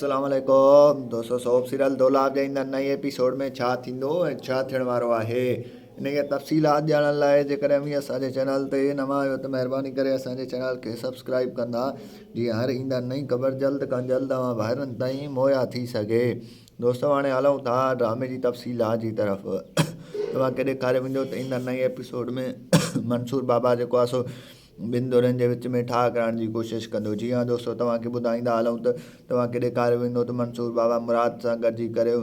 اسلام عليڪم دوستو سوپ سيريل دولاب جي ايندڙ نئين ايپيسوڊ ۾ ڇا ٿيندو ۽ ڇا ٿيڻ وارو آهي انهي جا تفصيلات ڄاڻڻ لاء جيڪڏهن اوهين اسان جي چينل تي نوان آهيو ته مهرباني ڪري اسان جي چينل کي سبسڪرائيب ڪندا جيئن هر ايندڙ نئين خبر جلد کان جلد اوهان ڀائرن تائين مهيا ٿي سگهي دوستو هاڻي هلون ٿا ڊرامي جي تفصيلات جي طرف توهان کي ڏيکاري ويندو ته ايندڙ نئين ايپيسوڊ ۾ منصور بابا جيڪو آهي سو ٻن ڌرين جي وچ ۾ ٺاهه ڪرائڻ جي ڪوشش ڪندو. جي ها دوستو توهان کي ٻڌائيندا هلون ته توهان کي ڏيکاريو ويندو ته منصور بابا مراد سان گڏجي ڪري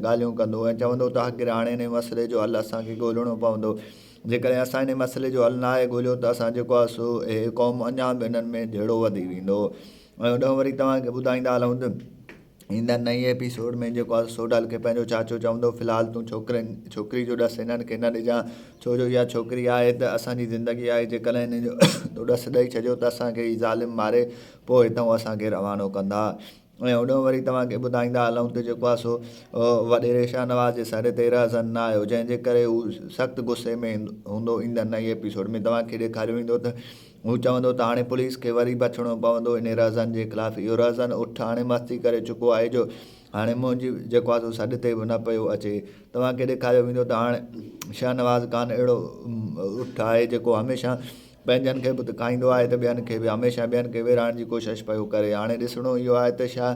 ڳالهيون ڪندو ۽ چوندو ته آخر هاڻي انهي مسئلي جو حل اسان کي ڳولهڻو پوندو جيڪڏهن اسان انهي مسئلي جو حل ناهي ڳولهيو ته اسان جيڪو آهي سو هي قوم اڃان به انهن ۾ جهيڙو وڌي ويندو ۽ هوڏانهن وري توهان کي ٻڌائيندا هلون ته ايندڙ نئين ايپيسوڊ ۾ جيڪو آهي سو ڊال کي پنهنجو چاچو چوندو في الحال تون ڇوڪرين ڇوڪري جو ڏس هنن کي نه ڏجان ڇو جو اها ڇوڪري آهي ته اسان جي زندگي آهي جيڪڏهن هن جو تو ڏس ڏئي ڇڏيو ته اسان کي هي ظالم ماري پوء هتئون اسان کي روانو ڪندا ۽ هوڏانهن وري توهان کي ٻڌائيندا هلون ته جيڪو آهي سو وڏيري شاهنواز جي سر تي رهزن نه آيو جنهن جي ڪري هو سخت غصي ۾ هوندو ايندڙ نئين ايپيسوڊ ۾ توهان کي ڏيکاريو ويندو ته هو چوندو ته هاڻي پوليس کي وري بڇڻو پوندو انهي رهزن جي خلاف. اهو رهزن اٺ هاڻي مستي ڪري چڪو آهي جو هاڻي منهنجي جيڪو آهي سو سڏ تي به نه پيو اچي. توهان کي ڏيکاريو ويندو ته هاڻي شهنواز خان اهڙو اٺ آهي جيڪو هميشه پنهنجن کي به ڪاهيندو آهي ته ٻين کي به. هميشه ٻين کي ويڙهائڻ جي ڪوشش پيو ڪري. هاڻي ڏسڻو اهو آهي ته شاهه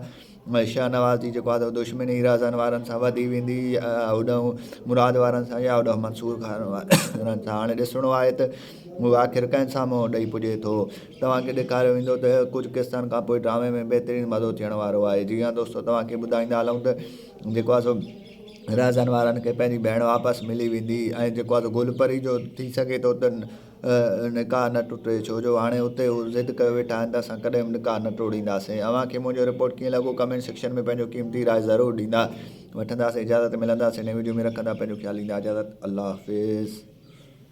۾ شاهه نواز جي جيڪو آهي سو دشمني رهزن وارن سان وڌي ويندي هوڏانهن مراد وارن سان يا هوڏانهن منصور خان وارن سان هاڻي ڏسڻو آهي ته هو آخر ڪنهن سان منهن ڏئي پڄي ٿو توهانکي ڏيکاريو ويندو ته ڪجهه قسطن کان پوء ڊرامي ۾ بهترين مزو ٿيڻ وارو آهي جي ها دوستو توهانکي ٻڌائيندا هلون ته جيڪو آهي سو رهزن وارن کي پنهنجي ڀيڻ واپس ملي ويندي ۽ جيڪو آهي سو گل پري جو ٿي سگهي ٿو ته نڪاح نه ٽٽي ڇو جو هاڻي اتي هو ضد ڪيو ويٺا آهن ته اسان ڪڏهن به نڪاح نه ٽوڙينداسين اوهان کي منهنجو رپورٽ ڪيئن لڳو ڪمينٽ سيڪشن ۾ پنهنجو قيمتي راء ضرور ڏيندا وٺنداسين اجازت ملنداسين نئين وڊيو ۾ رکندا پنهنجو خيال ڏيندا اجازت الله حافظ.